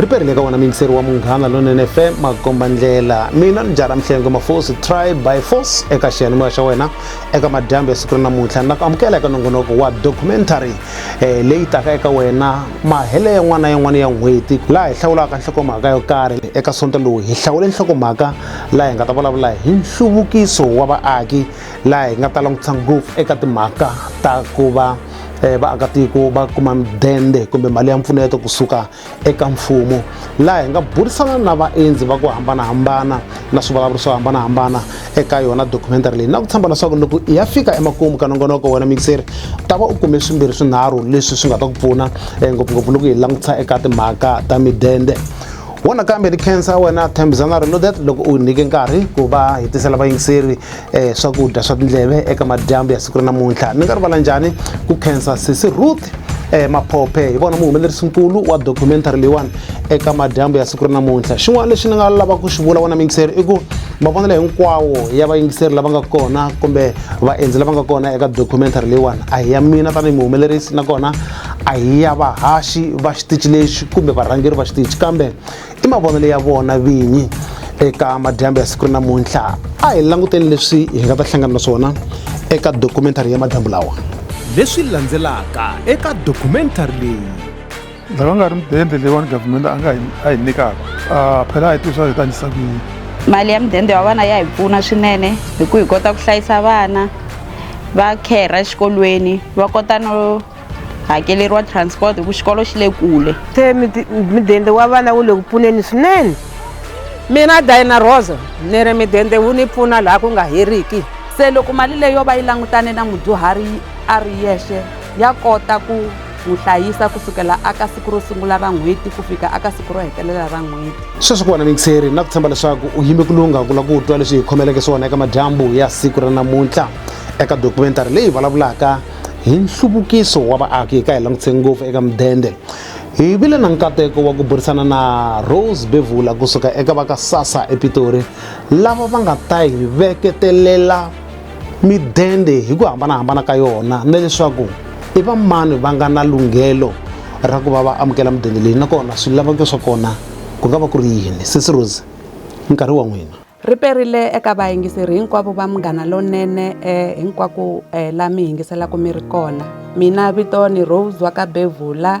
ri perile ka wona miyingiseri wa munghana lonene fm makomba ndlela mina ni jara mihlengo mafosi try by force eka xiyanimoya xa wena eka madyambu ya siku ri namuntlha ni la ku amukela eka nongonoko wa documentary eh, leyi taka eka wena mahele yan'wana na yan'wana ya n'hweti laha hi hlawulaka nhlokomhaka yo karhi eka sonto lowu hi hlawule nhlokomhaka laha hi nga ta vulavula hi nhluvukiso wa vaaki laha hi nga ta langutisa ngopfu eka timhaka ta ku va eh, vaakatiko va kuma midende kumbe mali ya mpfuneto kusuka eka mfumo laha hi nga burisana na vaendzi va ku hambanahambana na swivulavuri swo hambanahambana eka yona documentary leyi na ku tshemba leswaku loko i ya fika emakumu ka nongonoko wena mixeri ta va u kume swimbirhi swinharhu leswi swi nga ta ku pfuna eh, ngopfungopfu loko hi langutisa eka timhaka ta midende wo nakambe ni khensa wena thembisana reloaded loko u nyike nkarhi ku va hi tisela vayingiseri um swakudya swa tindleve eka madyambu ya siku ra namuntlha ni nga rivala njhani ku khensa sisi ruth um maphophe hi vona muhumelerisi nkulu wa documentary leyiwani eka madyambu ya siku ra namuntlha xin'wana lexi ni nga lava ku xi vula wena miyingiseri i ku mavonelo hinkwawo ya vayingiseri lava nga kona kumbe vaendzi lava nga kona eka documentary leyiwani a hi ya mina tanihi muhumelerisi nakona a hi ya vahaxi va xitici lexi kumbe varhangeri va xitici kambe i mavonelo ya vona vinyi eka madyambu ya siku ri namuntlha a hi languteni leswi hi nga ta hlangana na swona eka dokumentari ya madyambu lawa leswi landzelaka eka dokumentari leyi lava nga ri mudende leyiwani government a nga a hi nyikaka a phela a hi tivisa hi ta ndlisa ku yini mali ya mudende wa vana ya hi pfuna swinene hi ku hi kota ku hlayisa vana va kherha exikolweni va kota no hakeleriwa transport hi ku xikolo xi le kule se midende wa vana wu le ku pfuneni swinene mina dina rosa ni ri midende wu ni pfuna laha ku nga heriki se loko mali leyi yo va yi langutane na mudyuhari a ri yexe ya kota ku N'wi hlayisa ku sukela aka siku ro sungula ra n'hweti ku fika aka siku ro hetelela ra n'hweti. Sweswi ku wena miyingiseri, na ku tshemba leswaku u yime ku lungha ku lava ku twa leswi hi khomeleke swona eka madyambu ya siku ra namuntlha eka dokumentari leyi vulavulaka hi nhluvukiso wa vaaki. Ka hi langutise ngopfu eka mudende. Hi vile na nkateko wa ku burisana na Rose Bevula ku suka eka va ka SASSA ePitori lava va nga ta hi veketelela midende hi ku hambanahambana ka yona na leswaku i va mani va nga na lunghelo ra ku va va amukela midende leyi nakona swilaveko swa kona ku nga va ku ri yini sesi rose nkarhi wa n'wina ri perile eka vayingiseri hinkwavo va munghana lonene eh, hinkwako eh, la mi yingiselaka mi ri kona mina vito ni rose wa ka bevula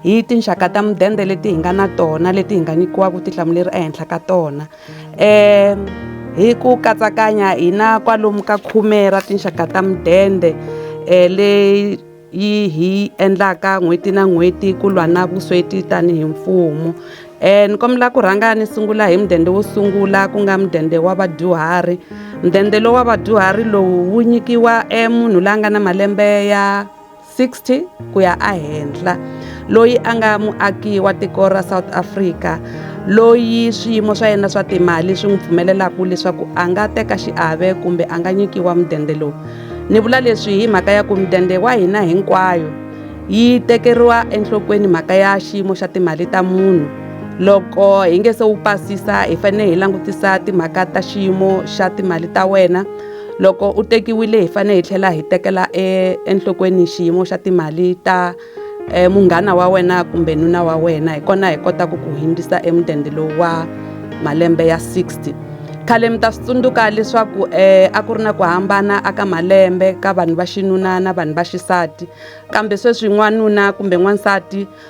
Hi tinxaka ta mudende leti hi nga na tona leti hi nga nyikiwaka vutihlamuleri ehenhla ka tona um hi ku katsakanya hi na kwalomu ka khume ra tinxaka ta mudende um leyi yi hi endlaka n'hweti na n'hweti ku lwa na vusweti tanihi mfumo um ni kombela ku rhanga ni sungula hi mudende wo sungula ku nga mudende wa vadyuhari mudende lowu wa vadyuhari lowu wu nyikiwa um munhu la nga na malembe ya 60 ku ya ehenhla, loyi a nga muaki wa tiko ra South Africa loyi swiyimo swa yena swa timali swi n'wi pfumelelaka leswaku a nga teka xiave kumbe a nga nyikiwa mudende lowu. Ni vula leswi hi mhaka ya ku mudende wa hina hinkwayo yi tekeriwa enhlokweni mhaka ya xiyimo xa timali ta munhu. Loko hi nge se wu pasisa hi fanele hi langutisa timhaka ta xiyimo xa timali ta wena. Loko u tekiwile hi fanele hi tlhela hi tekela enhlokweni xiyimo xa timali ta munghana wa wena kumbe nuna wa wena hi kona hi kotaka ku hundzisa emudende lowu wa malembe ya 60 khale mi ta swi tsundzuka leswaku um a ku ri na ku hambana aka malembe ka vanhu va xinuna na vanhu va xisati kambe sweswi n'wanuna kumbe n'wansati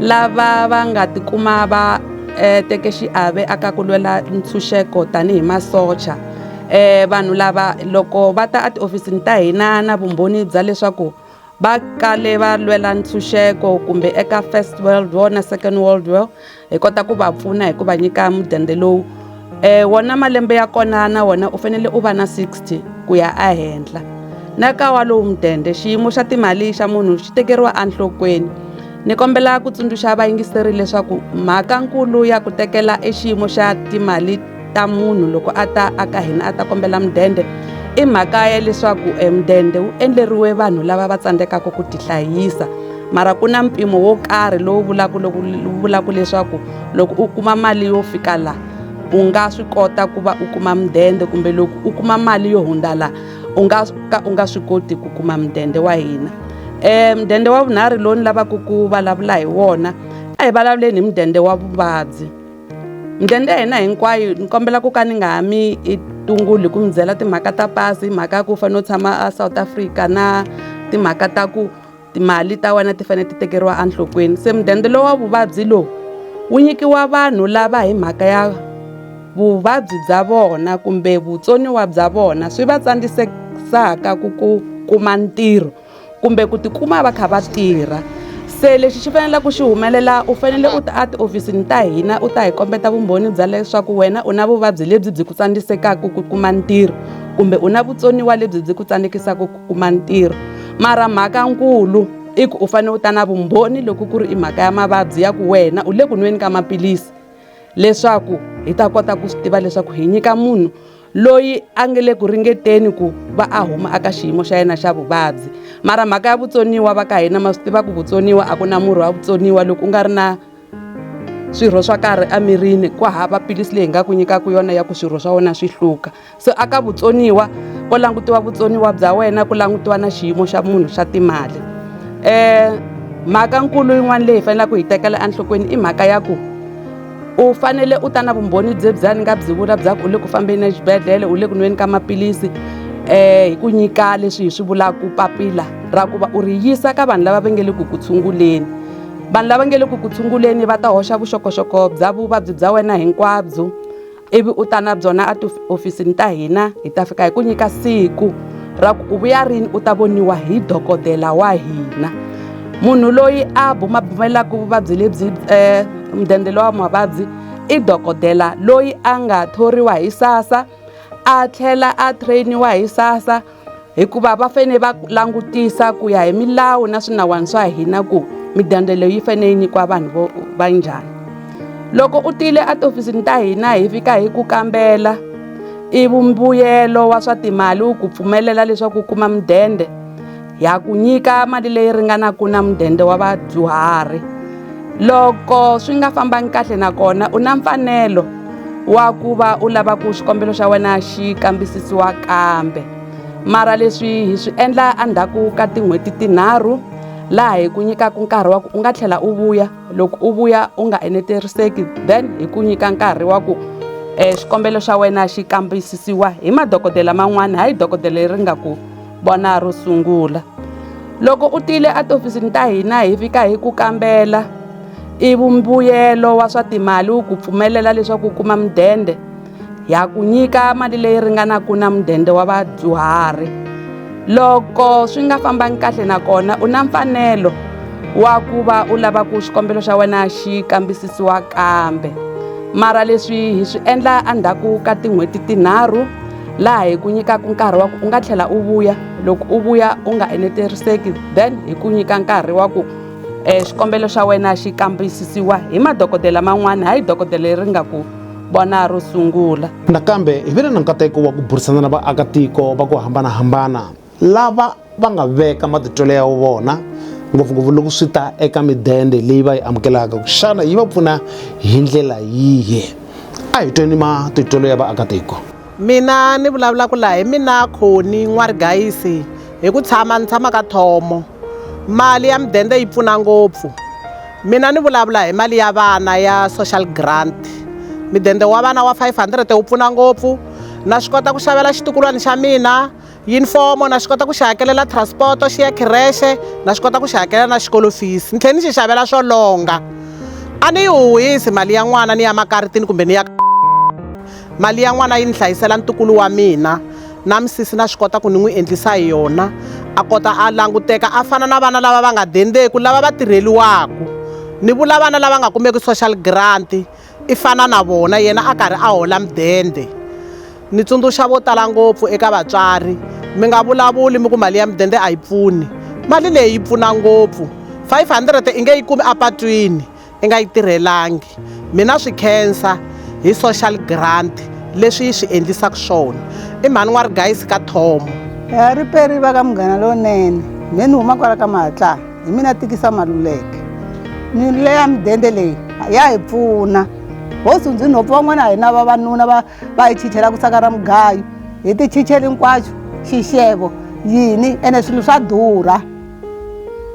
Lava va nga tikuma va eh, teke xiave aka ku lwela ntshunxeko tanihi masocha eh, vanhu lava loko va ta etihofisini ta hina na vumbhoni bya leswaku va kale va lwela ntshunxeko kumbe eka First World War na Second World War hi kota ku va pfuna hi ku va nyika mudende lowu Eh wona malembe ya kona na wona u fanele u va na 60 ku ya ehenhla. Na ka wa lowu mudende, xiyimo xa timali xa munhu xi tekeriwa enhlokweni. Ni kombela ku tsundzuxa vayingiseri leswaku mhakankulu ya ku tekela e xiyimo xa timali ta munhu loko a ta aka hina a ta kombela mudende i mhaka ya leswaku e mudende wu endleriwe vanhu lava va tsandzekaka ku tihlayisa mara ku na mpimo wo karhi lowu vulaka loku vulaka leswaku loko u kuma mali yo fika la u nga swi kota ku va u kuma mudende kumbe loko u kuma mali yo hundza la u nga ka u nga swi koti ku kuma mudende wa hina um mudende wa vunharhu lowu ni lavaka ku vulavula hi wona a hi vulavuleni hi mudende wa vuvabyi mudende ya hina hinkwayo ni kombela ku ka ni nga ha mi i tunguli hi ku mi byela timhaka ta pasi hi mhaka ya ku u fanele u tshama a South Africa na timhaka ta ku Timali ta wena ti fanele ti tekeriwa enhlokweni. Se mudende lowa vuvabyi lowu wu nyikiwa vanhu lava hi mhaka ya vuvabyi bya vona kumbe vutsoniwa bya vona swi va tsandisesaka ku ku kuma ntirho kumbe ku tikuma va kha va tirha se lexi xi faneleke ku xi humelela u fanele u ta a tihofisini ta hina u ta hi kombeta vumbhoni bya leswaku wena u na vuvabyi lebyi byi ku tsandzisekaka ku kuma ntirho kumbe u na vutsoniwa lebyi byi ku tsandzekisaka kuma ntirho mara mhaka nkulu i ku u fanele u ta na vumbhoni loko ku ri i mhaka ya mavabyi ya ku wena u le ku nweni ka maphilisi leswaku hi ta kota ku swi tiva leswaku hi nyika munhu loyi a nge le ku ringeteni ku va a huma aka xiyimo xa yena xa vuvabyi mara mhaka ya vutsoniwa va ka hina ma swi tiva ku vutsoniwa a ku na murhi wa vutsoniwa loko u nga ri na swirho swa karhi emirini ku hava philisi leyi hi nga ku nyikaka yona ya ku swirho swa wena swi hluka So aka vutsoniwa ko langutiwa vutsoniwa bya wena ku langutiwa na xiyimo xa munhu xa timali eh mhaka nkulu yin'wana leyi faneleke ku yi tekela enhlokweni i mhaka ya ku u fanele u ta na vumbhoni bye bya ni nga byi vula bya ku u le ku fambeni exibedhlele u le ku nweni ka maphilisi eh hi ku nyika leswi hi swi vulaka papila ra ku va u ri yisa ka vanhu lava va nge le ku ku tshunguleni vanhu lava nge le ku ku tshunguleni va ta hoxa vuxokoxoko bya vuvabyi bya wena hinkwabyo ivi u ta na byona a tihofisini ta hina hi ta fika hi ku nyika siku ra ku u vuya rini u ta voniwa hi dokodela wa hina munhu loyi a bumabumelaka vuvabyi lebyi um mudende lowa mavabyi i dokodela loyi a nga thoriwa hi sassa a tlhela a train-iwa hi sassa hikuva va fanele va langutisa ku ya hi milawu na swinawana swa hina ku midende leyi yi fanele yi nyikiwa vanhu vo va njhani loko u tile etihofisini ta hina hi fika hi ku kambela i vumbuyelo wa swa timali wu ku pfumelela leswaku u kuma mudende ha ku nyika mali leyi ringanaka na mudende wa vadyuhari loko swi nga fambangi kahle nakona u na mfanelo wa ku va u lava ku xikombelo xa wena xi kambisisiwa kambe mara leswi hi swi endla endzhaku ka tin'hweti tinharhu laha hi ku nyikaka nkarhi wa ku u nga tlhela u vuya loko u vuya u nga eneteriseki then hi ku nyika nkarhi wa ku um xikombelo xa wena xi kambisisiwa hi madokodela man'wana hayi dokodela leri nga ku Vona ro sungula. Loko u tile etihofisini ta hina hi fika hi ku kambela ivi mbuyelo wa swa timali wu ku pfumelela leswaku u kuma mudende ha ku nyika mali leyi ringanaka na mudende wa vadyuhari loko swi nga fambangi kahle nakona u na mfanelo wa ku va u lava ku xikombelo xa wena xi kambisisiwa kambe mara leswi hi swi endla endzhaku ka tin'hweti tinharhu. laha hi ku nyikaka nkarhi wa ku u nga tlhela u vuya loko u vuya u nga eneteriseki then hi ku nyika nkarhi wa ku um xikombelo xa wena xi kambisisiwa hi madokodela man'wana hayi dokodela leri nga ku vona ro sungula nakambe hi vile na nkateko wa ku burisana na vaakatiko va ku hambanahambana lava va nga veka matitwelo ya vona ngopfungopfu loko swi ta eka midende leyi va yi amukelaka xana yi va pfuna hi ndlela yihi a hi tweni matitwelo ya vaakatiko mina ni vulavulaka laha hi mina khoni n'warigayisi hi ku tshama ni tshama ka thomo mali ya midende yi pfuna ngopfu mina ni vulavula hi mali ya vana ya social grant midende wa vana wa 500 wu pfuna ngopfu na swi kota ku xavela xitukulwana xa mina yunifomo na swi kota ku xi hakelela transport xi ya khirexe na swi kota ku xi hakelela na xikolo fees ni tlhela ni xi xavela swo longa a ni yi huhisi mali ya n'wana ni ya makaritini kumbe ni ya mali ya n'wana yi ni hlayisela ntukulu wa mina na misisi na swi kota ku ni n'wi endlisa hi yona a kota a languteka a fana na vana lava va nga dendeku lava va tirheliwaku ni vula vana lava nga kumeki social grant i fana na vona yena a karhi a hola mudende ni tsundzuxa vo tala ngopfu eka vatswari mi nga vulavuli mi ku mali ya mudende a yi pfuni mali leyi yi pfuna ngopfu 500 i nge yi kumi apatwini i nga yi tirhelangi mina swi khensa hi social grant leswi yi swi endlisaka swona i mhani n'wa rigayisi ka thomo riperi va ka munghana lowunene mhe ni huma kwala ka mahatlana hi mina tikisa maluleke nyule ya midende leyi ya hi pfuna hosi ndzi nhopfu van'wana a hi na vavanuna va va hi chichela ku saka ra mugayo hi ti chicheli hinkwaxo xixevo yini ene swilo swa durha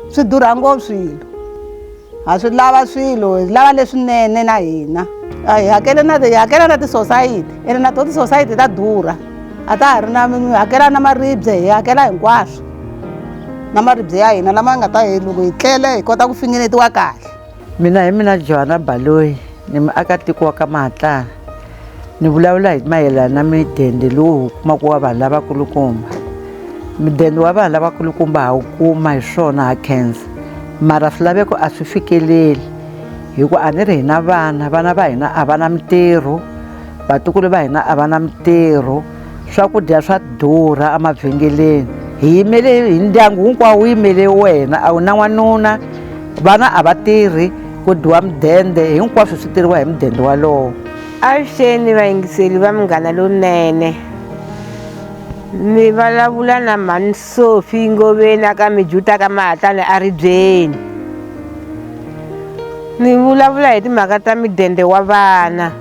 swi durha ngopfu swilo ha swi lava swilo hi lava leswinene na hina a hi hakele na hi hakela na tisosayiti ene na to tisosayiti ta durha a ta ha ri na mi hakela na maribye hi hakela hinkwaswo na maribye ya hina lama nga ta hi loko hi tlele hi kota ku fingenetiwa kahle mina hi mina johana baloyi ni muakatiko wa ka mahatlana ni vulavula hi mayelana na midende lowu kumaka wa vanhu lavakulukumba midende wa vanhu lavakulukumba ha wu kuma hi swona ha khensa mara swilaveko a swi fikeleli hi ku a ni ri hina vana vana va hina a va na mintirho vatukulu va hina a va na mitirho swakudya swa durha emavhengeleni hi yimele hi ndyangu hinkwawo wu yimele wena a wu na n'wanuna vana a va tirhi ku dyiwa mudende hinkwaswo swi tirhiwa hi mudende walowo avuxeni vayingiseli va munghana lowunene mi vulavula na mhani sofi ngoveni aka mijuta ka mahatlani a ribyeni ni vulavula hi timhaka ta midende wa vana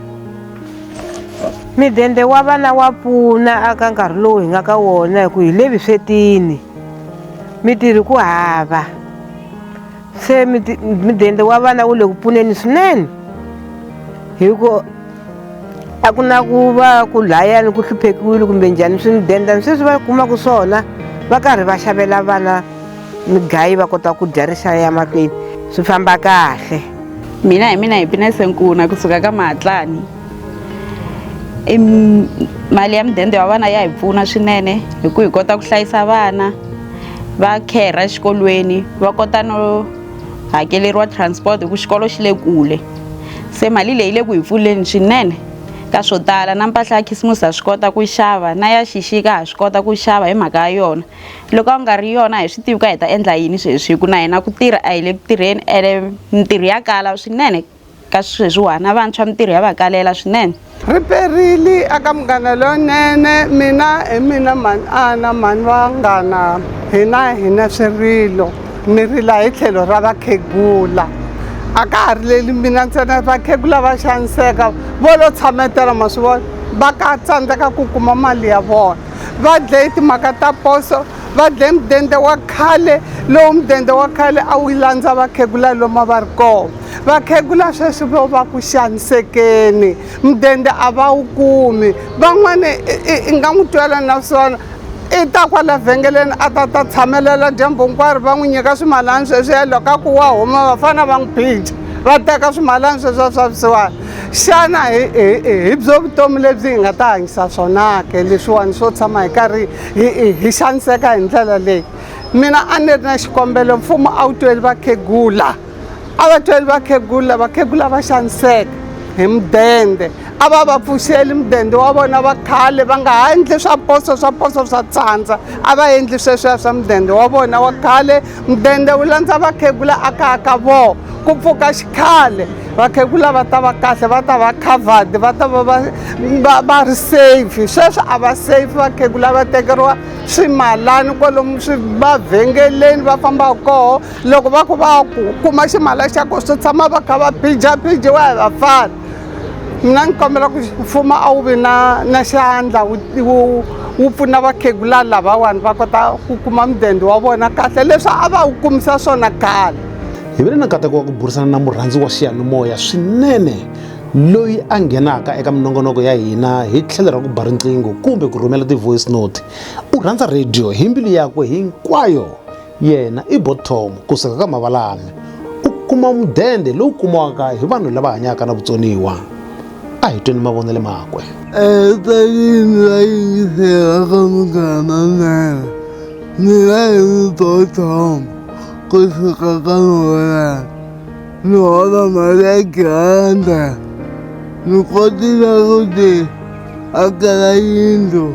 Midende wa vana wa pfuna aka nkarhi lowu hi nga ka wona hi ku hi le vuswetini mitirhi ku hava se midende wa vana wu le ku pfuneni swinene hi ku a ku na ku va ku layani ku hluphekiwile kumbe njhani swi midende sweswi va kumaka swona va karhi va xavela vana mugayi va kota ku dya rixaka ya makwini swi famba kahle mina hi mina hi pinese nkuna kusuka ka mahatlani i mali ya mudende wa vana ya hi pfuna swinene hi ku hi kota ku hlayisa vana va kherha exikolweni va kota no hakeleriwa transport hi ku xikolo xi le kule se mali leyi le ku hi pfuleni swinene ka swo tala na mpahla ya khisimusi ha swi kota ku xava na ya xixika ha swi kota ku xava hi mhaka ya yona loko a nga ri yona hi swi tivi ka hi ta endla yini sweswi hi ku na hina ku tirha a hi le ku tirheni ene mintirho ya kala swinene ka sweswiwani a vantshwa mintirho ya va kalela swinene ri perile aka munghana lonene mina hi mina mhani ana mhani vanghana hina hina swirilo mi rila hi tlhelo ra vakhegula a ka ha rileli mina ntsena vakhegula va xaniseka vo lo tshametela ma swi vona va ka tsandzeka ku kuma mali ya vona va dlaye timhaka ta poso va dlaye mudende wa khale lowu mudende wa khale a wu landza vakhegula loma va ri kona vakhegula sweswi vo va ku xanisekeni mudende a va wu kumi van'wani i nga n'wi twela na swona i ta kwala vhengeleni a ta ta tshamelela dyambu hinkwaro va n'wi nyika swimalani sweswi ya loko a ku wa huma vafana va n'wi phija va teka swimalani sweswi a swa vusiwana xana hi hi hi byo vutomi lebyi hi nga ta hanyisa swona ke leswiwani swo tshama hi karhi hi hi xaniseka hi ndlela leyi mina a ni ri na xikombelo mfumo a wu tweli vakhegula a va tweli vakhegula vakhegula va xaniseka hi mudende a va va pfuxeli mudende wa vona va khale va nga ha endli swa poso swa poso swa tsandza a va endli sweswiya swa mudende wa vona wa khale mudende wu landza vakhegula a kaya ka vona ku pfuka xikhale vakhegula va ta va kahle va ta va covered va ta va va va va ri safe sweswi a va safe vakhegula va tekeriwa swimalani kwalomu swi va vhengeleni va fambaka koho loko va ku va ku kuma ximala xa koho swi tshama va kha va pijapijiwa hi vafana mina ni kombela ku mfumo a wu vi na na xandla wu wu pfuna vakhegula lavawani va kota ku kuma mudende wa vona kahle leswi a va wu kumisa swona khale hi ve le na nkateko wa ku burisana na murhandzi wa xiyanimoya swinene loyi a nghenaka eka minongonoko ya hina hi tlhelo ra ku ba riqingho kumbe ku rhumela ti-voice note u rhandza radio hi mbilu yakwe hinkwayo Yena i bottom ku suka ka mavalame. U kuma mudende lowu kumiwaka hi vanhu lava hanyaka na vutsoniwa. A hi tweni mavonele makwe. Evuton'wini va yingisela ka Munghana Nene. Mina hi ri bottom ku suka ka mavalame. Ni hola mali ya granda. Ni kotile ku ti akela yindlu.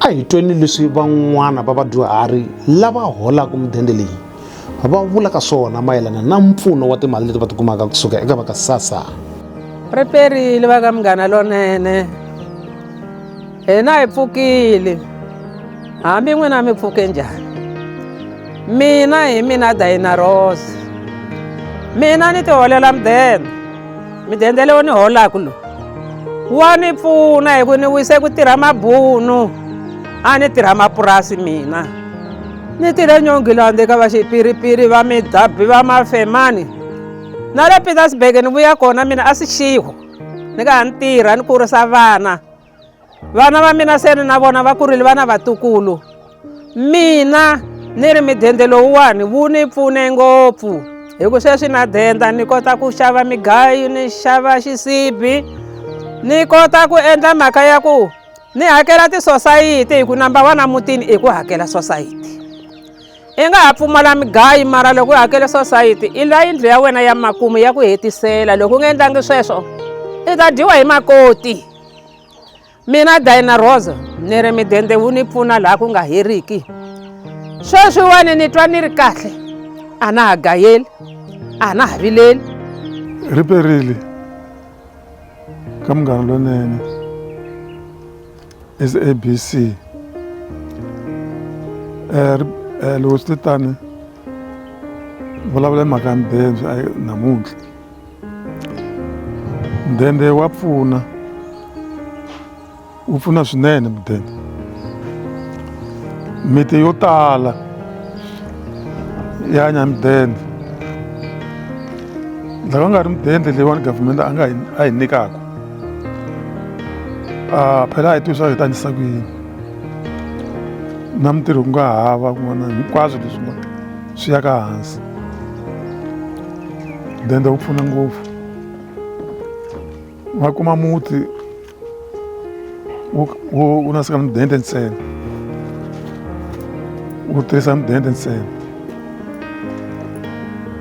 a hi tweni leswi van'wana va vadyuhari lava holaka mudende leyi va vulaka swona mayelana na mpfuno wa timali leti va tikumaka kusuka eka va ka sasa ri perile va ka munghana lonene hina hi pfukile hambi n'wina mi pfuke njhani mina hi mina dayina rose mina ni tiholela mudende midende leyi ni holaku lowu wa ni pfuna hi ku ni wise ku tirha mabunu a ni tirha mapurasi mina ni tirhe nyongilande ka vaxipiripiri va midabhi va mafemani na le petersburg ni vuya kona mina a swi xiho ni ka ha ni tirha ni kurisa vana vana va mina se ni na vona va kurile vana vatukulu mina ni ri midende lowuwani wu ni pfune ngopfu hi ku sweswi na denda ni kota ku xava migayo ni xava xisibi ni kota ku endla mhaka ya ku ni hakela tisosayiti hi ku namba wa na mutini i ku hakela sosayiti i nga ha pfumala migayi mara loko u hakele sosayiti i la yindlu ya wena ya makumu ya ku hetisela loko u nga endlangi sweswo i ta dyiwa hi makoti mina dayina rosa ni ri midende wu ni pfuna laha ku nga heriki sweswiwani ni twa ni ri kahle a na ha gayeli a na ha vileli ri perile ka munghana lonene sabc um eh, eh, loko swi te tani vulavula hi mhaka ya mibebyo namuntlha mudende wa pfuna wu pfuna swinene mudende miti yo tala ya nya mudende lava nga ri mudende leyiwani government a nga a hi nyikaku a phela a hi tivi swa hi tanyisa ku yini na mintirho ku nga hava kun'wana hinkwaswo leswi nga swi ya ka hansi dende wu pfuna ngopfu va kuma muti wu nasika mudende ntsena wu tirhisa mudende ntsena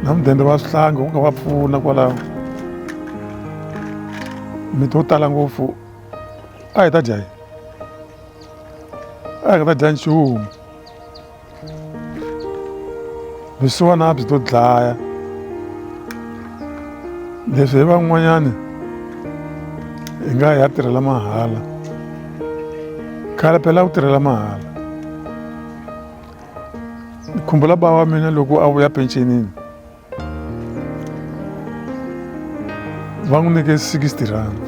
na mudende wa swihlangi wu nga va pfuna kwalaho miti wo tala ngopfu a hi ta dya yi a hi nga ta dya nchumu vusiwana a byi to dlaya leswi hi van'wanyani hi nga hi ya tirhela mahala khale phela ku tirhela mahala ni khumbula bava wa mina loko a vuya pensionini va n'wi nyike 60 rand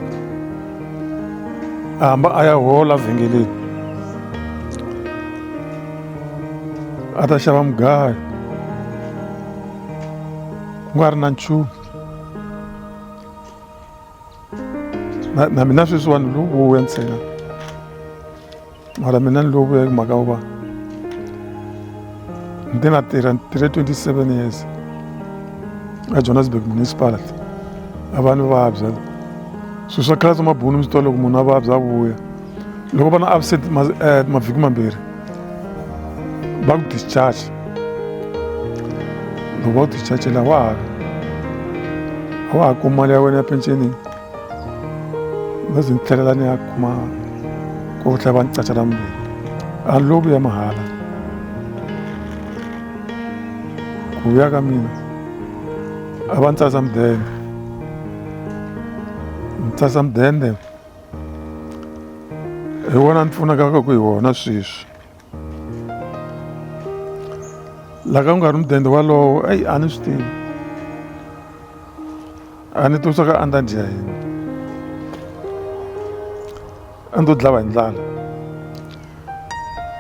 a hamba a ya hola vhengeleni a ta xava mugayo ku nga ri na nchumu na mina sweswiwani lowu wo ntsena mara mina ni lovuya hi mhaka uva ndi na tirha ni tirhe 27 years a johannesburg municipality a va ni vabya swilo swa khale swa mabunu mi swi twa loko munhu a vabya a vuya loko va na absent eh, mavhiki mambirhi va ku discharge loko va ku dischargela wa ha a wa ha kuma mali ya wena ya pensionini ni zi ni tlhelela ni ya kuma ku tlhela va ni caca na mbirhi a ni loku ya mahala ku ya ka mina a va ni tsasa mudende ni tsasa mudende hi wona ni pfunaka ku hi wona sweswi la ka ku nga ri mudende walowo eyi a ni swi tivi a ni tivi swa ka a ni ta dya yini a ni to dlava hi ndlala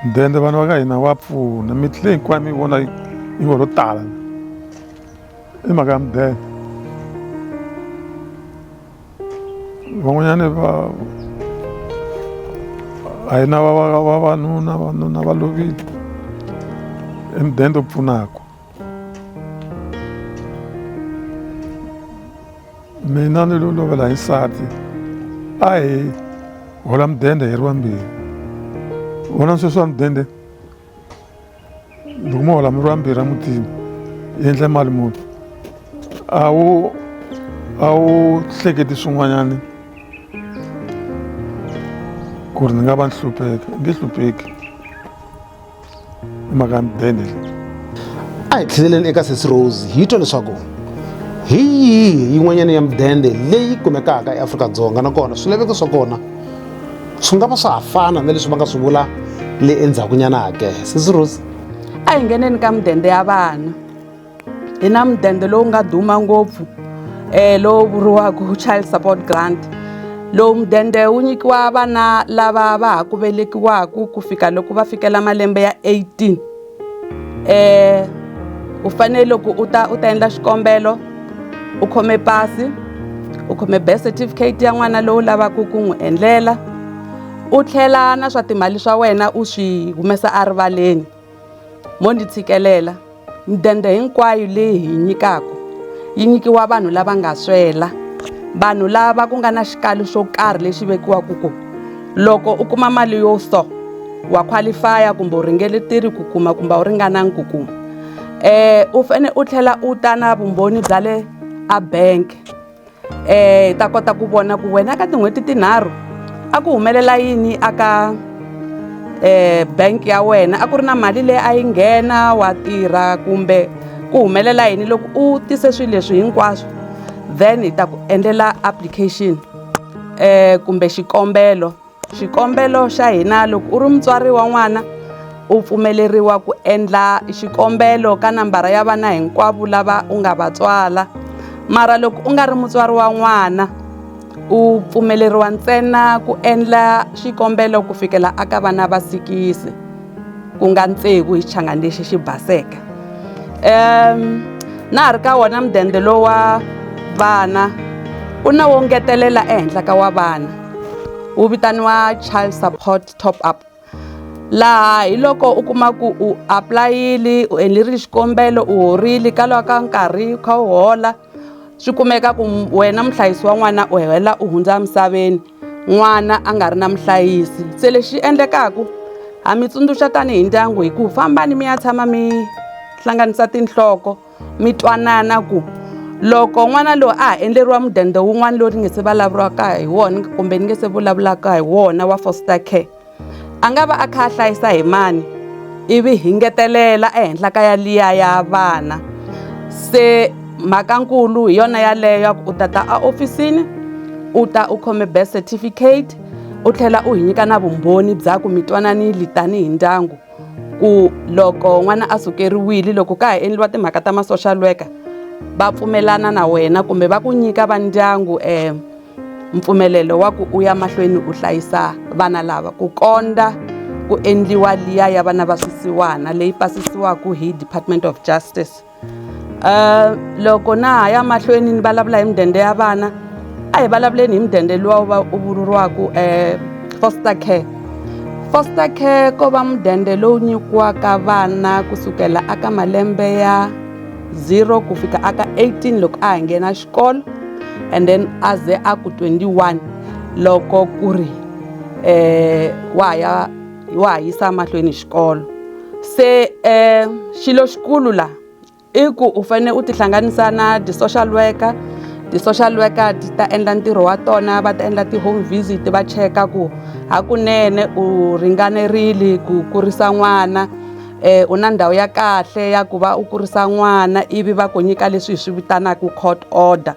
mudende vana va ka hina wa pfuna mitlhe hinkwayo mi vona yi ngo lo tala i mhaka ya mudende van'wanyana va a hi na vavanuna vanuna va lovile i mudende u pfunaka mina ni lo lovela hi nsati a hi hola mudende hi ri wambirhi vona sweswi wa mudende loko mo hola mi ri vambirhi emutini yi endle mali muni a wu a wu hleketi swin'wanyana ku ri ni nga va ni hlupheka nge hlupheki i mhaka ni bene leyi a hi tlheleleni eka sesi rose hi twa leswaku hi yihi yin'wanyana ya mudende leyi kumekaka eafrika-dzonga nakona swilaveko swa kona swi nga va swa ha fana na leswi va nga swi vula le endzhakunyana hake sisi rosi a hi ngheneni ka mudende ya vana hi na mudende lowu nga duma ngopfu um lowu vuriwaka child support grant lowu mudende wu nyikiwa vana lava va ha ku velekiwaka ku fika loko va fikela malembe ya 18 eh u fanele loko u ta u ta endla xikombelo u khome pasi u khome birth certificate ya n'wana lowu lavaka ku n'wi endlela u tlhela na swa timali swa wena u swi humesa erivaleni mo ndzi tshikelela midende hinkwayo leyi hi nyikaka yi nyikiwa vanhu lava nga swela vanhu lava ku nga na xikalo xo karhi lexi vekiwaka kona. loko u kuma mali yo so wa qualify kumbe u ringeletile ku kuma kumbe a wu ringananga ku kuma um u fane u tlhela u ta na vumbhoni bya le a bank um hi ta kota ku vona ku wena ka tin'hweti tinharhu a ku humelela yini a ka um bank ya wena a ku ri na mali leyi a yi nghena wa tirha kumbe ku humelela yini loko u tise swilo leswi hinkwaswo then hi ta ku endlela application. um kumbe xikombelo xikombelo xa hina loko u ri mutswari wa n'wana u pfumeleriwa ku endla xikombelo ka nambara ya vana hinkwavo lava u nga va tswala mara loko u nga ri mutswari wa n'wana u pfumeleriwa ntsena ku endla xikombelo ku fikela a ka vana va sikisi ku nga tsevu hi xichangani lexi xi baseke um na ha ri ka wona mudende lowu wa vana u na wo ngetelela ehenhla ka wa vana wu vitaniwa child support top up laha hi loko u kuma ku u apulayile u endlerile xikombelo u horile ka lwa ka nkarhi u kha u hola swi kumeka ku wena muhlayisi wa n'wana u hela u hundza emisaveni n'wana a nga ri na muhlayisi se lexi endlekaka ha mi tsundzuxa tanihi ndyangu hi ku fambani mi ya tshama mi hlanganisa tinhloko mi twanana ku loko n'wana loyi a ha endleriwa mudende wun'wana lowu ni nge se vulavuriwaka hi wona kumbe ni nge se vulavulaka hi wona wa foster care a nga va a kha a hlayisa hi mani ivi hi ngetelela ehenhla ka yaliya ya vana se mhakankulu hi yona yaleyo ya ku u tata a ofisini u ta u khome birth certificate u tlhela u hi nyika na vumbhoni bya ku mi twananile tanihi ndyangu ku loko n'wana a sukeriwile loko ka ha endliwa timhaka ta ma-social worker va pfumelana na wena kumbe va ku nyika va ndyangu um mpfumelelo wa ku u ya mahlweni u hlayisa vana lava ku kondza ku endliwa liya ya vana va swisiwana leyi pasisiwaka hi department of justice um loko na ha ya mahlweni ni vulavula hi mudende ya vana a hi vulavuleni hi mudende luwa wu va u vuriwaka um eh, foster care foster care ko va mudende lowu nyikiwaka vana kusukela aka malembe ya zero ku fika aka 18 loko a ha nghena xikolo and then a ze a ku 21 loko ku ri eh wa ha ya wa ha yisa mahlweni xikolo se eh xilo xikulu la i ku u fanele u tihlanganisa na ti-social worker ti-social worker ti ta endla ntirho wa tona va ta endla ti-home visit va cheka ku hakunene u ringanerile ku kurisa n'wana um u na ndhawu ya kahle ya ku va u kurisa n'wana ivi va ku nyika leswi hi swi vitanaka court order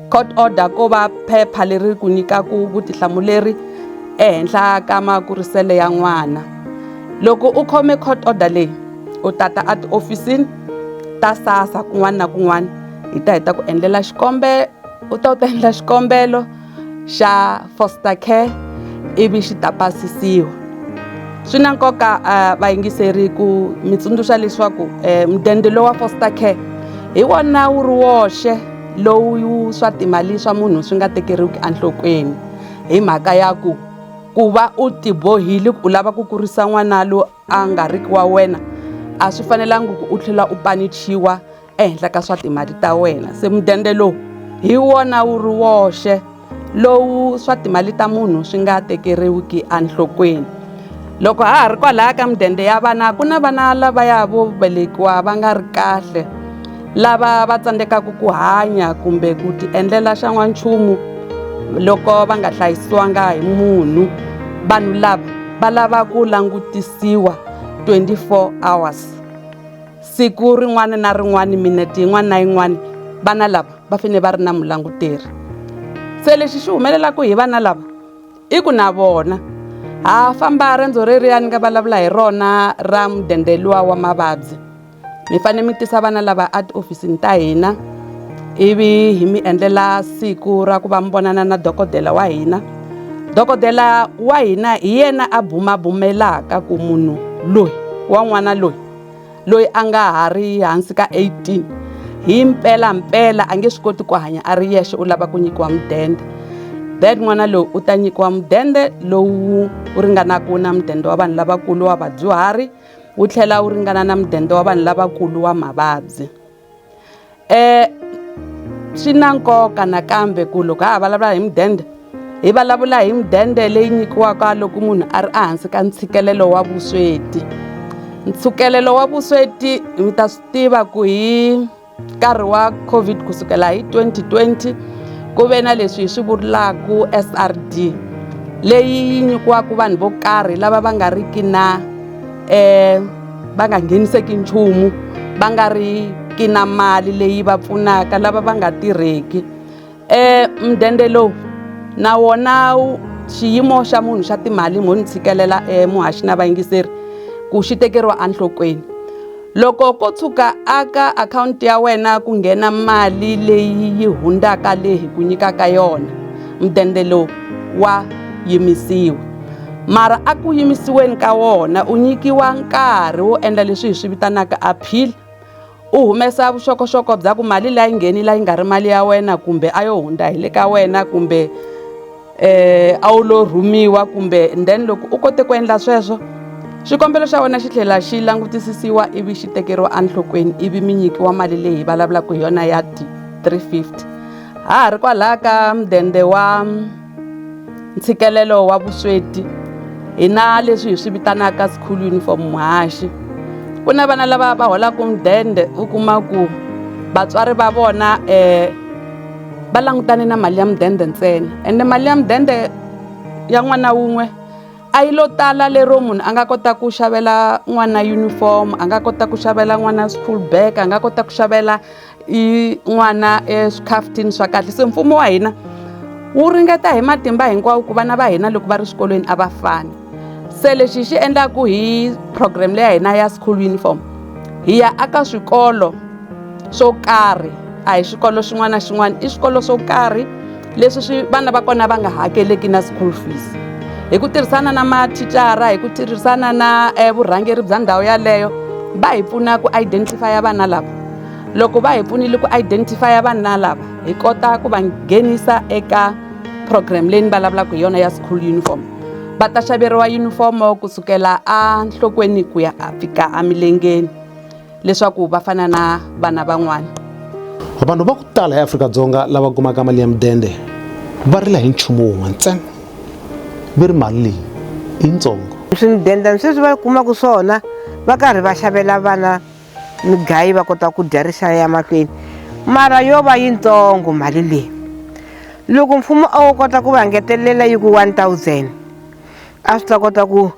court order ko va phepha leri ku nyikaka vutihlamuleri ehenhla ka makuriselo ya n'wana loko u khome court order leyi u tata a tihofisini ta sasa kun'wana na kun'wana hi ta hi ta ku endlela xikombelo u ta u ta endla xikombelo xa foster care ivi xi ta pasisiwa swi na nkoka vayingiseri ku mi tsundzuxa leswaku mudende lowa foster care hi wona wu ri woxe lowu swa timali swa munhu swi nga tekeriwiki enhlokweni hi mhaka ya ku ku va u tibohile u lava ku kurisa n'wana loyi. a nga ri ki wa wena a swi fanelangi ku u tlhela u panichiwa ehenhla ka swa timali ta wena se mudende lowu hi wona wu ri woxe lowu swa timali ta munhu swi nga tekeriwiki enhlokweni loko ha ha ri kwalaya ka mudende ya vana ku na vana lavaya vo velekiwa va nga ri kahle lava va tsandzekaka ku hanya kumbe ku tiendlela xa n'wanchumu loko va nga hlayisiwanga hi munhu vanhu lava va lava ku langutisiwa 24 hours siku rin'wana na rin'wana minete yin'wana na yin'wana vana lava va fanele va ri na mulanguteri se lexi xi humelelaka hi vana lava i ku na vona ha famba rendzo reriyani nga vulavula hi rona ra mudende luwa wa mavabyi mi fanele mi tisa vana lava etihofisini ta hina ivi hi mi endlela siku ra ku va mi vonana na dokodela wa hina dokodela wa hina hi yena a bumabumelaka ku munhu loyi wa n'wana loyi loyi a nga ha ri hansi ka 18 hi mpela mpela a nge swi koti ku hanya a ri yexe u lava ku nyikiwa mudende then n'wana loyi u ta nyikiwa mudende lowu u ringanaka na mudende wa vanhu lavakulu wa vadyuhari wu tlhela wu ringana na mudende wa vanhu lavakulu wa mavabyi um swi na nkoka nakambe ku loko ha ha vulavula hi mudende hi vulavula hi mudende leyi nyikiwaka loko munhu a ri ehansi ka ntshikelelo wa vusweti ntshikelelo wa vusweti mi ta swi tiva ku hi nkarhi wa covid ku sukela hi 2020 ku ve na leswi hi swi vurilaku srd leyi yi nyikiwaka vanhu vo karhi lava va nga riki na um va nga ngheniseki nchumu va nga ri ki na mali leyi va pfunaka lava va nga tirheki E mudende lowu na wona xiyimo xa munhu xa timali mo ni tshikelela e muhaxi na vayingiseri ku xi tekeriwa enhlokweni loko ko tshuka a ka akhawunti ya wena ku nghena mali leyi yi hundzaka leyi hi ku nyikaka yona mudende lowu wa yimisiwa mara a ku yimisiweni ka wona u nyikiwa nkarhi wo endla leswi hi swi vitanaka appeal. u humesa vuxokoxoko bya ku mali leyi ngheni leyi nga ri mali ya wena kumbe a yo hundza hi le ka wena kumbe eh a wu lo rhumiwa kumbe then loko u kote ku endla sweswo xikombelo xa wena xi tlhela xi langutisisiwa ivi xi tekeriwa enhlokweni ivi mi nyikiwa mali leyi vulavulaka hi yona ya three fifty ha ha ri kwalaho ka mudende wa ntshikelelo wa vusweti hi na leswi hi swi vitanaka school uniform muhaxi ku na vana lava va holaka mudende u kuma ku vatswari va vona um va langutane na mali ya mudende ntsena ende mali ya mudende ya n'wana wun'we a yi lo tala lero munhu a nga kota ku xavela n'wana uniform a nga kota ku xavela n'wana school bag a nga kota ku xavela i n'wana eswikhafuthini swa kahle se mfumo wa hina wu ringeta hi matimba hinkwawo ku vana va hina loko va ri swikolweni a va fani se lexi hi xi endlaku hi program leya hina ya school uniform hi ya aka swikolo swo karhi a hi xikolo xin'wana na xin'wana i swikolo swo karhi leswi swi vana va kona va nga hakeleki na school fees hi ku tirhisana na mathicara hi ku tirhisana na eh, vurhangeri bya ndhawu yaleyo va hi pfuna ku identifya vana lava loko va hi pfunile ku identifya vana lava hi kota ku va nghenisa eka program leyi ni vulavulaka hi yona ya school uniform va ta xaveriwa yunifomo kusukela enhlokweni ku ya fika emilengeni leswaku va fana na vana van'wana vanhu va ku tala eafrika-dzonga lava kumaka mali ya mudende va rila hi nchumu wun'we ntsena va ri mali leyi yintsongo swi mudende ni sweswi va kumaka swona va karhi va xavela vana migayi va kota ku dya rixaya ya mahlweni mara yo va yintsongo mali leyi loko mfumo a wo kota ku va ngetelela yi ku one thousand a swi ta kota ku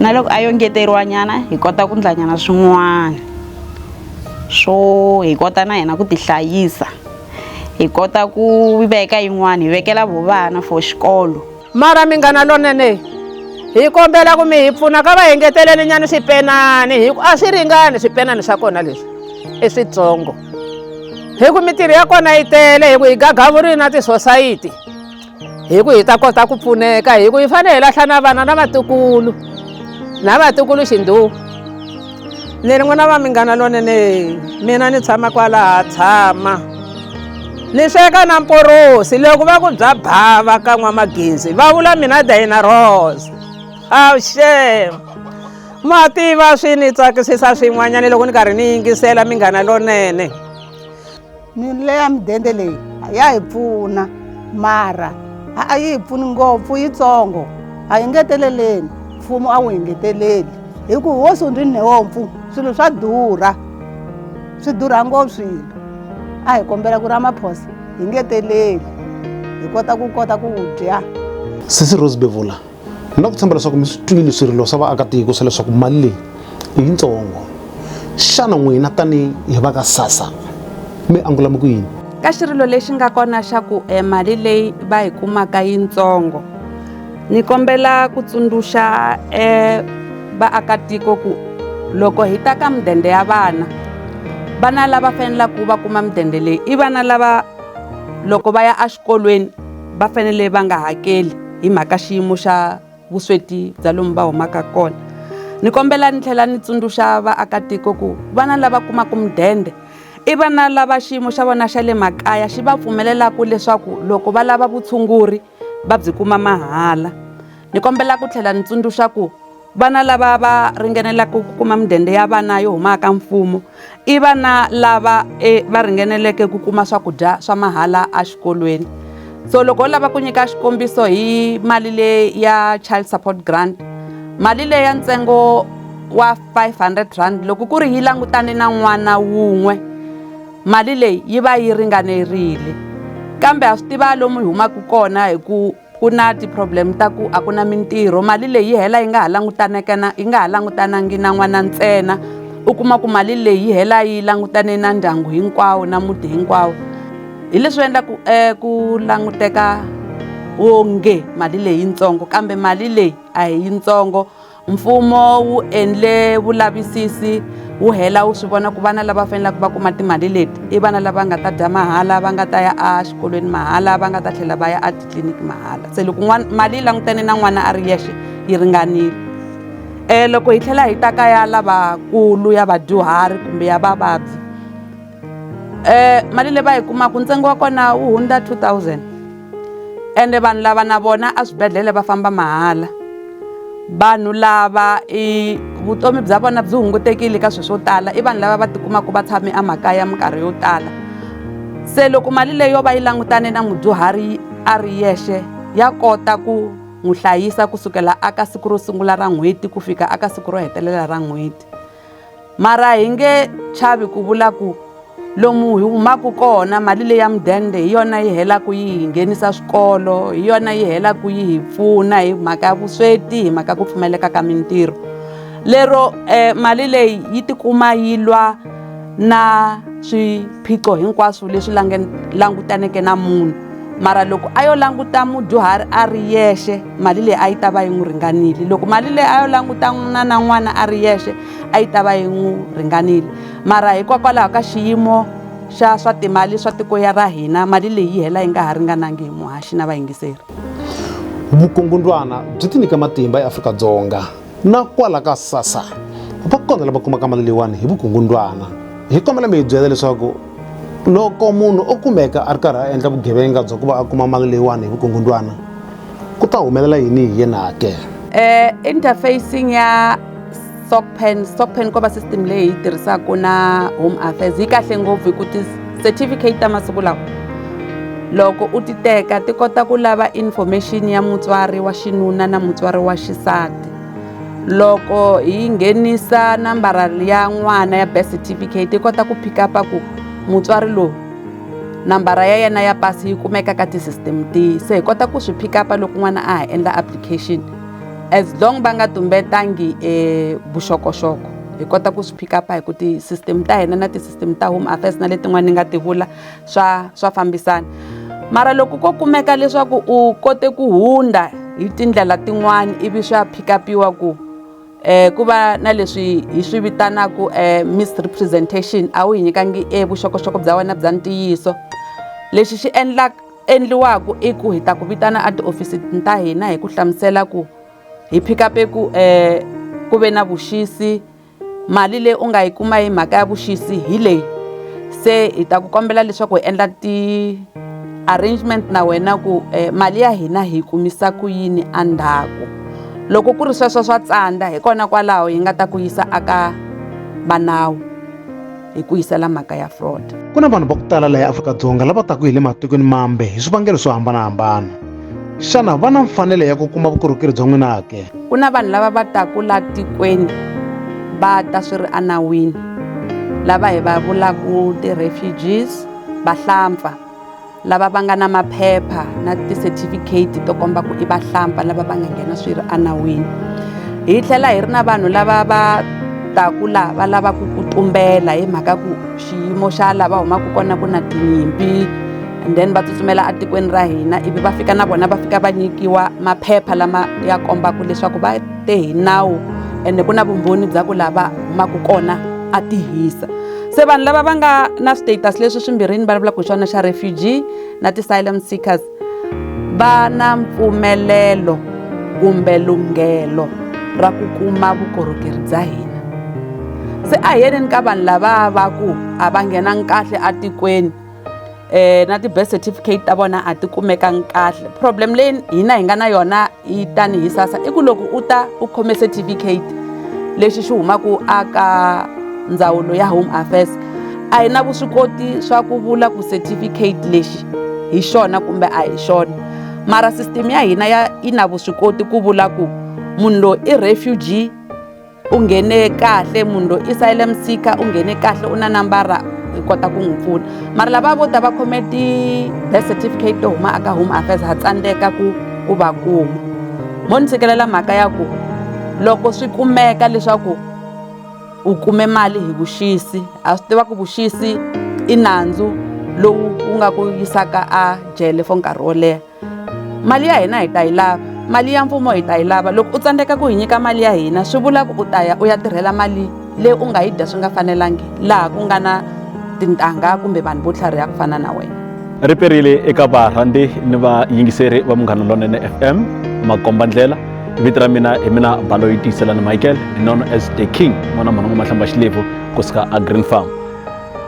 na loko a yo ngeteriwanyana hi kota ku ndlanyana swin'wana swo hi kota na hina ku tihlayisa hi kota ku veka yin'wana hi vekela vo vana for xikolo mara minghana lonene hi kombela ku mi hi pfuna ka va engeteleli nyana swipenani hi ku a swi ringani swipenani swa kona leswi i switsongo hi ku mitirho ya kona yi tele hi ku hi gagavurile na tisosayiti hi ku hi ta kota ku pfuneka hi ku hi fanele hi lahla na vana na vatukulu na vatukulu xindhuwa ni ri n'wana va minghana lonene mina ni tshama kwalaha tshama ni sweka na mporosi loko va ku bya bava ka n'wamagenzi va vula mina dayina rose awushem ma tiva swi ni tsakisisa swin'wanyana loko ni karhi ni yingisela minghana lonene mile ya mudende leyi ya hi pfuna mara a a yi hi pfuni ngopfu yitsongo a yi ngeteleleni mfumo a wu hi ngeteleli hi ku hosi u ndzi nhompfu swilo swa durha swi durha ngopfu swilo a hi kombela ku ri amaphosa hi ngeteleli hi kota ku kota ku dya sisi rose bevula ni lava ku tshemba leswaku mi swi twile swirilo swa vaakatiko swa leswaku mali leyi i yitsongo xana n'wina tanihi hi va ka sasa mi angulame ku yini ka xirilo lexi nga kona xa ku e mali leyi va yi kumaka yitsongo ni kombela ku tsundzuxa e vaakatiko ku loko hi ta ka mudende ya vana vana lava fanelaka va kuma mudende leyi i vana lava loko va ya exikolweni va fanele va nga hakeli hi mhaka xiyimo xa vusweti bya lomu va humaka kona ni kombela ni tlhela ni tsundzuxa vaakatiko ku vana lava kumaka mudende i vana lava xiyimo xa vona xa le makaya xi va pfumelelaka leswaku loko va lava vutshunguri va byi kuma mahala ni kombela ku tlhela ni tsundzuxa ku Vana lava va ringanelaka ku kuma mudende ya vana yo huma ka mfumo i vana lava e va ringaneleke ku kuma swakudya swa mahala exikolweni so loko u lava ku nyika xikombiso hi mali leyi ya child support grant mali leyi ya ntsengo wa five hundred rand loko ku ri yi langutane na n'wana wun'we mali leyi yi va yi ringanerile kambe ha swi tiva lomu hi humaka kona hi ku ku na ti-problem ta ku a ku na mintirho mali leyi yi hela yi nga ha langutanekana yi nga ha langutanangi na n'wana ntsena u kuma ku mali leyi yi hela yi langutane na ndyangu hinkwawo na muti hinkwawo hi leswi endlaku um ku languteka onge mali leyitsongo kambe mali leyi a hi yitsongo mfumo wu endle vulavisisi wu hela wu swi vona ku vana lava faneleke va kuma timali leti i vana lava nga ta dya mahala va nga ta ya exikolweni mahala va nga ta tlhela va ya etitliniki mahala se loko n'wana mali yi langutane na n'wana a ri yexe yi ringanile um loko hi tlhela hi ta ka ya lavakulu ya vadyuhari kumbe ya vavabyi eh mali leyi va yi kumaka ntsengo wa kona wu hundza 2000 ende vanhu lava na vona eswibedhlele va famba mahala vanhu lava i vutomi bya vona byi hungutekile ka swilo swo tala i vanhu lava va tikumaka va tshame emakaya minkarhi yo tala se loko mali leyi yo va yi langutane na mudyuhari a ri yexe ya kota ku n'wi hlayisa kusukela aka siku ro sungula ra n'hweti ku fika aka siku ro hetelela ra n'hweti mara hi nge chavi ku vula ku lomu hi humaka kona mali leyi ya mudende hi yona yi helaka yi hi nghenisa swikolo hi yona yi helaka yi hi pfuna hi mhaka ya vusweti hi mhaka ku pfumaleka ka mintirho lero um mali leyi yi tikuma yi lwa na swiphiqo hinkwaswo leswi langutaneke na munhu mara loko a yo languta mudyuhari a ri yexe mali leyi a yi ta va yi n'wi ringanile loko mali leyi a yo languta n'wina na n'wana a ri yexe a yi ta va yi n'wi ringanile mara hikokwalaho ka xiyimo xa swa timali swa tiko ya ra hina mali leyi yi hela yi nga ha ringanangi hi muhaxi na vayingiseri vukungundwana byi tinyika matimba eafrika dzonga na kwala ka sasa va kona lava kumaka mali leyiwani hi vukungundwana hi kombela mi hi byela leswaku loko munhu o kumeka a ri karhi a endla vugevenga bya ku va a kuma mali leyiwani hi vukungundwana ku ta humelela yini hi yena ke eh interfacing ya stockpen stockpen ko va system leyi hi yi tirhisaka na home affairs yi kahle ngopfu hi ku Certificate ta masiku lawa loko u ti teka ti kota ku lava information ya mutswari wa xinuna na mutswari wa xisati loko hi nghenisa nambara ya n'wana ya birth certificate yi kota ku pick up ku mutswari lowu nambara ya yena ya pasi yi kumeka ka ti-system tihi se hi kota ku swi pick up loko n'wana a ha endla application as long va nga tumbetangi e vuxokoxoko hi kota ku swi pick up hi ku ti-system ta hina na ti mi ta home affairs na letin'wana ni nga ti vula swa swa fambisana mara loko ko kumeka leswaku u kote ku hundza hi tindlela tin'wana ivi swa phikapiwa ku eh ku va na leswi hi swi vitanaku eh misrepresentation a wu hi nyikangi e vuxokoxoko bya wena bya ntiyiso lexi xi endla endliwaku i ku hi ta ku vitana a tiofisi ta hina hi ku hlamusela ku hi phikape ku eh ku ve na vuxisi Mali leyi u nga yi kuma hi mhaka ya vuxisi hi leyi se hi ta ku kombela leswaku hi endla ti arrangement na wena ku mali ya hina hi yi kumisa ku yini a ndzhaku loko ku ri sweswo swa tsandza hi kona kwalaho hi nga ta ku yisa a ka va nawu. hi ku yisela mhaka ya fraud ku na vanhu va ku tala laha afrika-dzonga lava taku hi le matikweni mambe hi swivangelo swo hambanahambana xana va na mfanelo ya ku kuma vukorhokeri bya n'wina ke ku na vanhu lava va taku laha tikweni va ta swi ri anawini lava hi va vulaku ti-refugees vahlampfa lava va nga na maphepha na ti-certificate to komba ku i vahlampfa lava va nga nghena swi ri enawini hi tlhela hi ri na vanhu lava va taku laha va lavaka ku tumbela hi mhaka ku xiyimo xa laha va humaka kona ku na tinyimpi and then va tsutsumela etikweni ra hina ivi va fika na vona va fika va nyikiwa maphepha lama ya kombaka leswaku va te hi nawu ende ku na vumbhoni bya ku lava humaka kona a tihisa se vanhu lava va nga na status leswi swimbirhini va vulavulaka hi swona xa refugee na ti-silent seekers va na mpfumelelo kumbe lunghelo ra ku kuma vukorhokeri bya hina se a hi yeneni ka vanhu lava va ku a va nghenangi kahle atikweni eh na ti-birth certificate ta vona a ti kumekangi kahle problem leyi hina hi nga na yona yi tani hi sasa i ku loko u ta u khome certificate lexi xi humaka a ka ndzawulo ya home affairs a hi na vuswikoti swa ku vula ku certificate lexi hi xona kumbe a hi xona mara system ya hina ya yi na vuswikoti ku vula ku munhu loyi i refugee u nghene kahle munhu loyi isayile msika u nghene kahle u na nambara hi kota ku n'wi pfuna mara lava vo ta va khome ti-birth certificate to huma aka home affairs ha tsandzeka ku ku va kuma mo ni tshikelela mhaka ya ku loko swi kumeka leswaku u kume mali hi vuxisi ha swi tiva ku vuxisi i nandzu lowu wu nga ku yisaka a jele for nkarhi wo leha mali ya hina hi ta yi lava mali ya mfumo hi ta yi lava loko u tsandzeka ku hi nyika mali ya hina swi vula ku u ta ya u ya tirhela mali leyi u nga yi dya swi nga fanelangi laha ku nga na tintangha kumbe vanhu vo tlhariha ku fana na wena ri perile eka varhandzi ni vayingiseri va munghana lonene fm makomba ndlela vito ra mina hi mina balo yi tiyiselani michael known as the king n'wana mhana n'wamahlamba xilebvu kusuka a green farm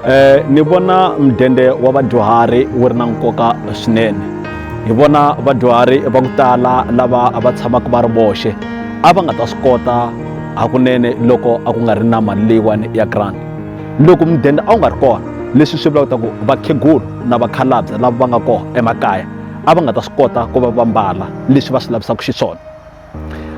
Eh, ni vona mudende wa vadyuhari wu ri na nkoka swinene hi vona vadyuhari va ku tala lava va tshamaka va ri voxe a va nga ta swi kota hakunene loko a ku nga ri na mali leyiwani ya grant loko mudende a wu nga ri kona leswi swi vulaka ku vakhegulu na vakhalabye lava va nga kona emakaya a va nga ta swi kota ku va va mbala leswi va swi lavisaka xiswona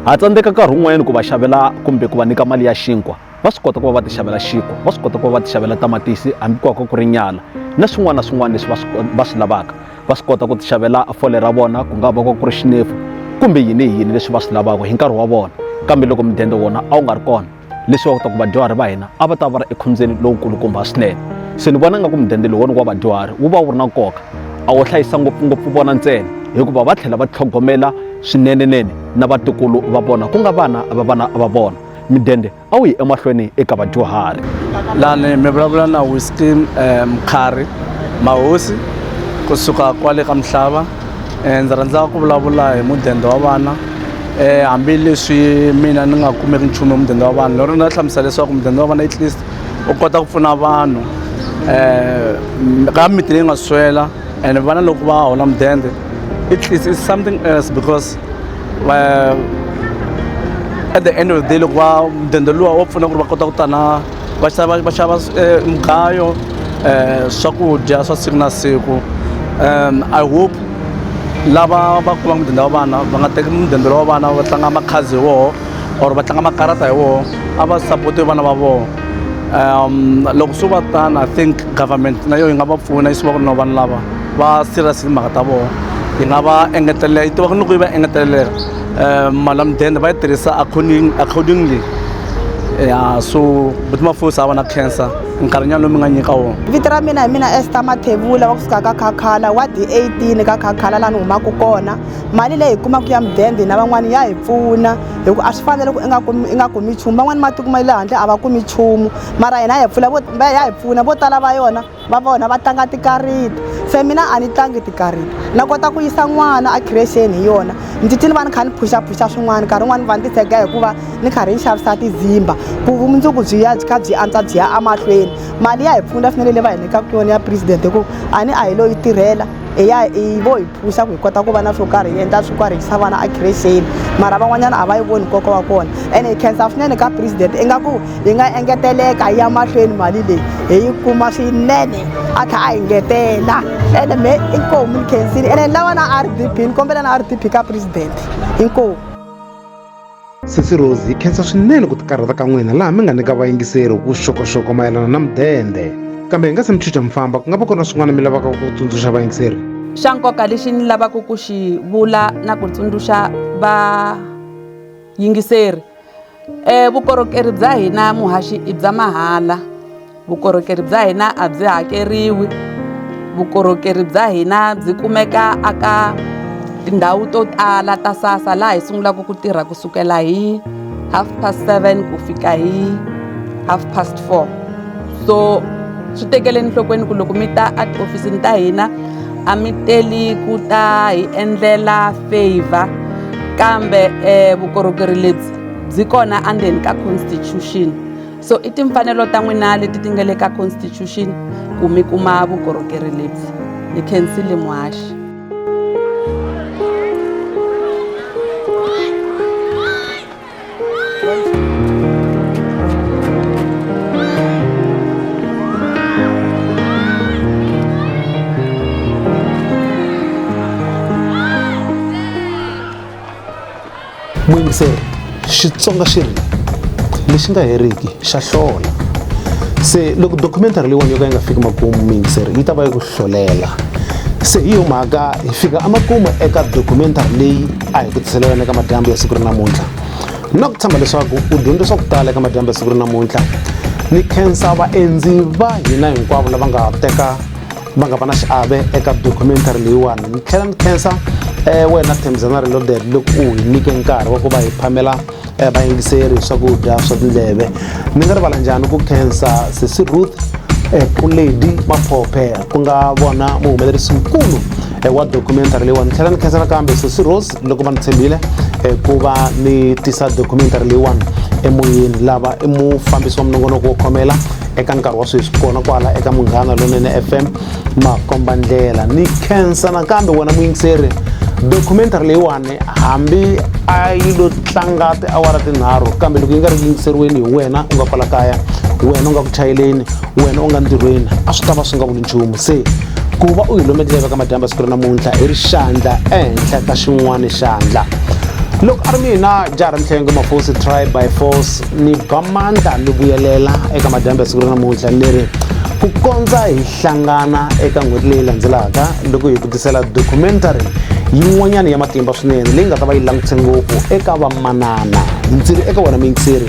ha tsandzeka nkarhi wun'wanyana ku va xavela kumbe ku va nyika mali ya xinkwa va swi kota ku va va ti xavela xinkwa va swi kota ku va va ti xavela tamatisi hambi ku va ku ri nyala na swin'wana na swin'wana leswi va swi va swi lavaka va swi kota ku ti xavela fole ra vona ku nga va ku ri xinefu kumbe yini hi yini leswi va swi lavaka hi nkarhi wa vona kambe loko mudende wona a wu nga ri kona leswi va kota ku vadyuhari va hina a va ta va ri ekhombyeni lowukulukumba swinene se ni vona nga ku mudende lowona wa vadyuhari wu va wu ri na nkoka a wu hlayisa ngopfungopfu vona ntsena hikuva va tlhela va tlhogomela swinenenene na vatukulu va vona ku nga vana va vana va vona midende a wu yi emahlweni eka vadyuhari lani mi vulavula na whisky um eh, mkhari mahosi kusuka kwale ka mhlava um ndzi rhandza ku vulavula hi mudende wa vana um hambileswi mina ni nga kumeki nchumu hi mudende wa vana lero ni nga hlamusela leswaku mudende wa vana at least u kota ku pfuna vanhu um ka miti leyi nga swela and vana loko va hola mudende at least is something else because eh, at the end of the day loko va mudende luwa wa pfuna ku ri va kota ku ta na va xava va xava eh, mugayo eh, swakudya swa siku na siku um i hope lava va kuma mudende wa vana va nga teki mudende wa vana va tlanga makhazi hi woho or va tlanga makarata hi woho a va sapotiwe vana va voho um loko swi va tano i think government na yo yi nga va pfuna yi swi va ku ri na vanhu lava va serious hi timhaka ta vona hi nga va engetelela yi tiva ku ni ku yi va engetelela um mali ya mudende va yi tirhisa according accordingly ya so buti mafosi a va na cancer nkarhinyana lowu mi nga nyika wona vito ra mina hi mina ester mathevula va ku suka ka khakhala wa d eighteen ka khakhala laha ni humaka kona mali leyi hi kumaka ya mudende na van'wana ya hi pfuna hi ku a swi fanele ku i nga kumi i nga kumi nchumu van'wana matiko ma le handle a va kumi nchumu mara hina ya hi pfula vo ya hi pfuna vo tala va yona va vona va tlanga tikariti se mina a ni tlangi tikariti na kota ku yisa n'wana a khirexeni hi yona ndzi ti ni va ni kha ni phuxaphuxa swin'wana nkarhi wun'wani va ni titshega hikuva ni karhi ni xavisa tizimba ku vumundzuku byi ya byi kha byi antswa byi ya emahlweni mali ya hi pfuna swinene leyi va hi nyikaka yona ya president hikuva a ni a hi lo yi tirhela hi ya hi vo hi phusa ku hi kota ku va na swo karhi hi endla swi karhi hi yisa vana a khireseni mara van'wanyana a va yi voni nkoka wa kona ene hi khensa swinene ka president ingaku hi nga engeteleka hi ya mahlweni mali leyi hi yi kuma swinene a tlha a hi ngetela ene me inkomu ni khensini ene ni lava na r d p ni kombela na r d p ka president inkomu Sesi Rose hi khensa swinene ku tikarhata ka n'wina laha mi nga nyika vayingiseri vuxokoxoko mayelana na mudende kambe hi nga se mi chucha mi famba ku nga va ku ri na swin'wana mi lavaka ku tsundzuxa vayingiseri xa nkoka lexi ni lavaka ku xi vula na ku tsundzuxa vayingiseri um vukorhokeri bya hina muhaxi i bya mahala vukorhokeri bya hina a byi hakeriwi vukorhokeri bya hina byi kumeka aka tindhawu to tala ta sasa laha hi sungulaka ku tirha ku sukela hi half past seven ku fika hi half past four so swi tekele enhlokweni ku loko mi ta a tihofisini ta hina a mi teli ku ta hi endlela favor kambe um vukorhokeri lebyi byi kona endzeni ka constitution so i timfanelo ta n'wina leti ti nga le ka constitution ku mi kuma vukorhokeri lebyi ni khensile muhaxi Muyingiseri, Xitsonga xi ri, lexi nga heriki xa hlola. Se loko documentary leyiwani yo ka yi nga fiki makumu muyingiseri yi ta va yi ku hlolela. Se hi yo mhaka hi fika emakumu eka documentary leyi a hi ku tisela yona eka madyambu ya siku ri namuntlha. Na ku tshemba leswaku u dyondze swa ku tala eka madyambu ya siku ri namuntlha. Ni khensa vaendzi va hina hinkwavo lava nga teka va nga va na xiave eka documentary leyiwani ni tlhela ni khensa um wena thembizana reloaded loko u hi nyike nkarhi wa ku va hi phamela um vayingiseri hi swakudya swa tindleve ni nga rivala njhani ku khensa sesi ruth um eh, puledi maphophe ku nga vona muhumelerisi mukulu um wa documentary leyiwani ni tlhela ni khensa nakambe sesi rose loko va ni tshembile eh, ku va ni tisa documentary leyiwani emoyeni lava i mufambisi wa minongonoko wo khomela eka nkarhi wa sweswi kona kwala eka munghana lonene fm makomba ndlela ni khensa nakambe wena muyingiseri documentary leyiwani hambi a yi lo tlanga tiawara tinharhu kambe loko yi nga ri ku yingiseriweni hi wena u nga kwala kaya wena u nga ku chayeleni wena u nga ntirhweni a swi ta va swi nga vuli nchumu se ku va u hi lometeleka ka madyamba siku ra namuntlha hi ri xandla ehenhla ka xin'wana xandla loko a ri mina jaha ra mihlengo mafosi try by force ni ba mandla ni vuyelela eka madyamba siku ra namuntlha ni ri ku kondza hi hlangana eka n'hweti leyi landzelaka loko hi vutisela documentary yin'wanyana ya matimba swinene leyi nga ta va yi langutise ngopfu eka vamanana ndzi ri eka wena miyingiseri